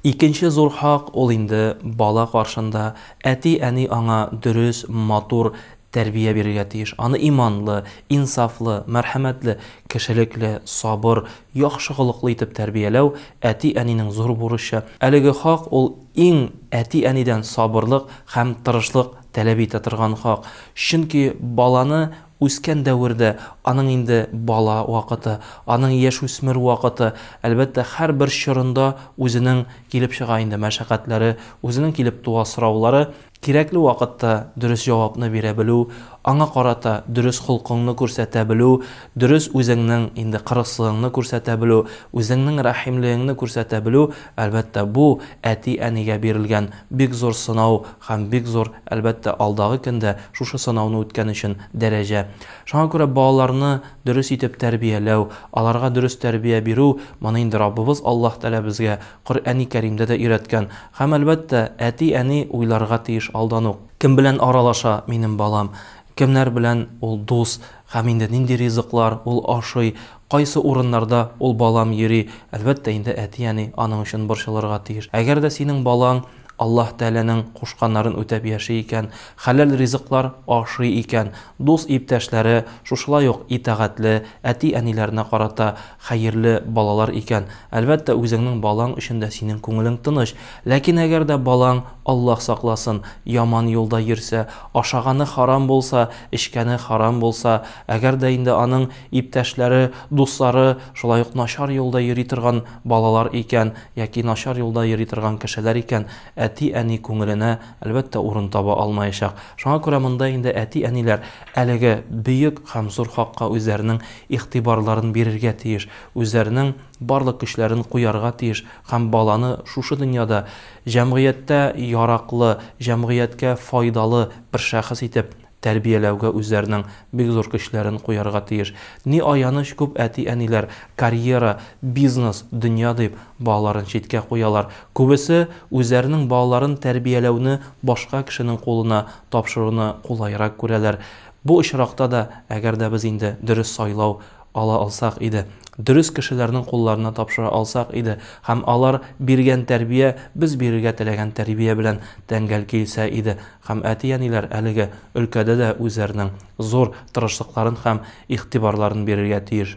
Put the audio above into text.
Икенче зур хак ул инде бала каршында, әти-әни аңа дөрес, матур тәрбия бирергә тиеш, аны иманлы, инсафлы, мәрхәмәтле, кешелекле, сабыр, яхшы холыклы итеп тәрбияләү, әти-әнинең зур бурычы. Әлеге хак ул иң әти-әнидән сабырлык һәм тырышлык таләп итә торган хак, чөнки баланы Үскән дәвердә, аның инде бала вакыты, аның яшүсмер вакыты, әлбәттә, һәрбер чорында үзенең килеп чыга инде мәшәкатьләре, үзенең килеп туа сораулары. Кирәкле вакытта дөрес җавапны бирә белү, аңа карата дөрес холкыңны күрсәтә белү, дөрес үзеңнең инде кырыслыгыңны күрсәтә белү, үзеңнең рәхимлегеңне күрсәтә белү, әлбәттә, бу әти-әнигә бирелгән Бик зур сынау һәм бик зур, әлбәттә, алдагы көн дә шушы сынауны үткән өчен дәрәҗә. Шуңа күрә балаларны дөрес итеп тәрбияләү, аларга дөрес тәрбия бирү, моны инде Раббыбыз Аллаһ Тәгалә безгә Коръәни Кәримдә дә өйрәткән. Һәм, әлбәттә, әти-әни уйларга тиеш алдан ук. Кем белән аралаша минем балам, кемнәр белән ул дус һәм инде нинди ризыклар ул ашый, Кайсы урыннарда ул балам йөри, әлбәттә инде әти-әни аның өчен борчылырга тиеш. Әгәр дә синең балаң Аллаһ Тәгаләнең кушканнарын үтәп яши икән, хәләл ризыклар ашый икән, дус-иптәшләре шушылай ук итагатьле, әти-әниләренә карата хәерле балалар икән, әлбәттә, үзеңнең балаң өчен дә синең күңелең тыныч. Ләкин әгәр дә балаң, Аллаһ сакласын, яман юлда йөрсә, ашаганы харам булса, эчкәне харам булса, әгәр дә инде аның Иптәшләре, дуслары шулай ук начар юлда йөри торган балалар икән, яки начар юлда йөри торган кешеләр икән, әти-әни күңеленә, әлбәттә, урын таба алмаячак. Шуңа күрә монда инде әти-әниләр әлеге бөек һәм зур хакка үзләренең игътибарларын бирергә тиеш, үзләренең барлык көчләрен куярга тиеш һәм баланы шушы дөньяда җәмгыятьтә яраклы, җәмгыятькә файдалы бер шәхес итеп тәрбияләүгә үзләренең бик зур көчләрен куярга тиеш. Ни аяныч, күп әти-әниләр карьера, бизнес, дөнья дип, балаларын читкә куялар. Күбесе үзләренең балаларын тәрбияләүне башка кешенең кулына тапшыруны кулайрак күрәләр. Бу очракта да, әгәр дә без инде дөрес сайлау Ала алсак иде, дөрес кешеләрнең кулларына тапшыра алсак иде һәм алар биргән тәрбия без бирергә теләгән тәрбия белән тәңгәл килсә иде һәм әти-әниләр әлеге өлкәдә дә үзләренең зур тырышлыкларын һәм игътибарларын бирергә тиеш.